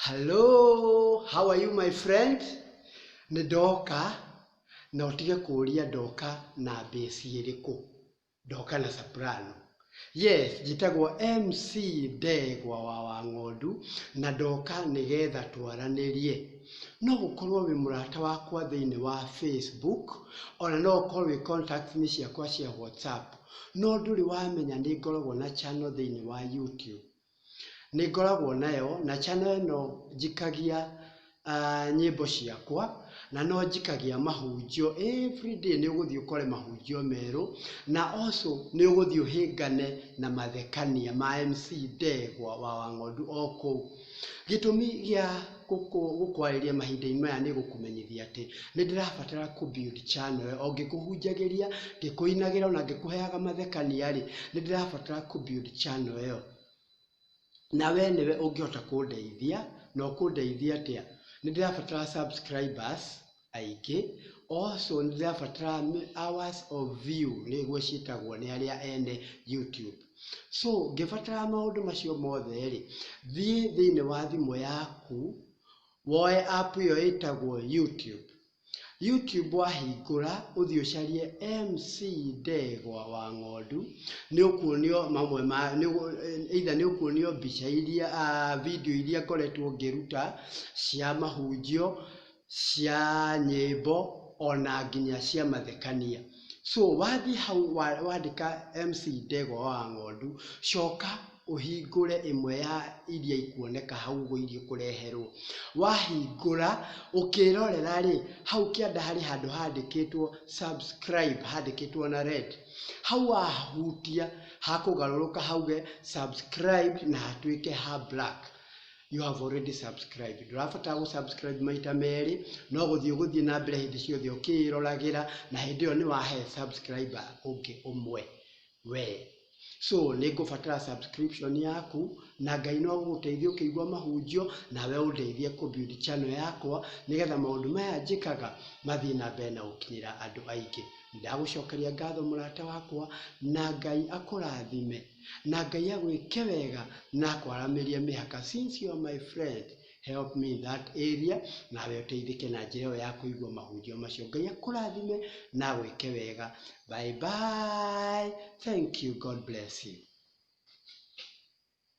Hello, how are you my friend? Nĩ ndoka na ũtige kũũria ndoka na bass ĩrĩkũ. Ndoka na soprano. Yes, njĩtagwo MC Ndegwa wa Wang'ondu na ndoka nĩgetha twaranĩrie. No ũkorwo wĩ mũrata wakwa thĩinĩ wa Facebook, ona no ũkorwo wĩ contacts inĩ ciakwa cia WhatsApp, no ndũrĩ wamenya nĩ ngoragwo na channel thĩinĩ wa YouTube. nĩngoragwo nayo, na channel ĩno njikagia nyĩmbo ciakwa, na no njikagia mahunjio, everyday nĩũgũthiĩ ũkore mahunjio merũ, na also nĩũgũthiĩ ũhĩngane na mathekania ma MC Ndegwa wa Wang'ondu o kũu. Gĩtũmi gĩa gũkwarĩria mahinda-inĩ maya nĩ gũkũmenyithia atĩ, nĩ ndĩrabatara kũ build channel ĩyo. O ngĩkũhunjagĩria, ngĩkũinagĩra ona ngĩkũheaga mathekania rĩ, nĩ ndĩrabatara kũ build channel ĩyo. Na we nĩwe ũngĩhota kũndeithia, na ũkũndeithia atĩa? Nĩ ndĩrabatara subscribers. aingĩ, also nĩ ndĩrabatara hours of view nĩguo ciĩtagwo nĩ arĩa ene YouTube. So ngĩbatara maũndũ macio mothe rĩ, thiĩ thĩinĩ wa thimũ yaku, woe app ĩyo ĩtagwo YouTube. YouTube wahingũra, ũthiĩ ũcarie MC Ndegwa wa Ng'ondu, nĩ ũkuonio mamwe ma, either nĩ ũkuonio mbica iria, video iria ngoretwo ngĩruta cia mahunjio, cia nyĩmbo ona nginya cia mathekania. So wathiĩ hau wandĩka MC Ndegwa wa Ng'ondu, coka ũhingũre ĩmwe ya iria ikuoneka hau ũguo iria ũkũreherwo. Wahingũra, ũkĩrorera rĩ, hau kĩanda harĩ handũ handĩkĩtwo subscribe handĩkĩtwo na red. Hau wahutia hakũgarũrũka hauge subscribed na hatuĩke ha black. you have already subscribed ndũrabatara gũ subscribe maita merĩ no gũthiĩ ũgũthiĩ na mbere hĩndĩ ciothe ũkĩĩroragĩra na hĩndĩ ĩyo nĩ wahe subscriber ũngĩ ũmwe we so nĩ ngũbatara subscription yaku na ngai no gũgũteithia ũkĩigua mahunjio nawe ũndeithie kũbuild channel yakwa nĩgetha maũndũ maya njĩkaga mathiĩ na mbere na gũkinyĩra andũ aingĩ ndagũcokeria ngatho mũrata wakwa na ngai akũrathime Na Ngai agwĩke wega na akwaramĩrie mĩhaka since you're my friend help me in that area nawe ũteithĩke na njĩra ĩyo ya kũigua mahunjio macio. Ngai akũrathime na agwĩke wega. Bye bye. Thank you. God bless you.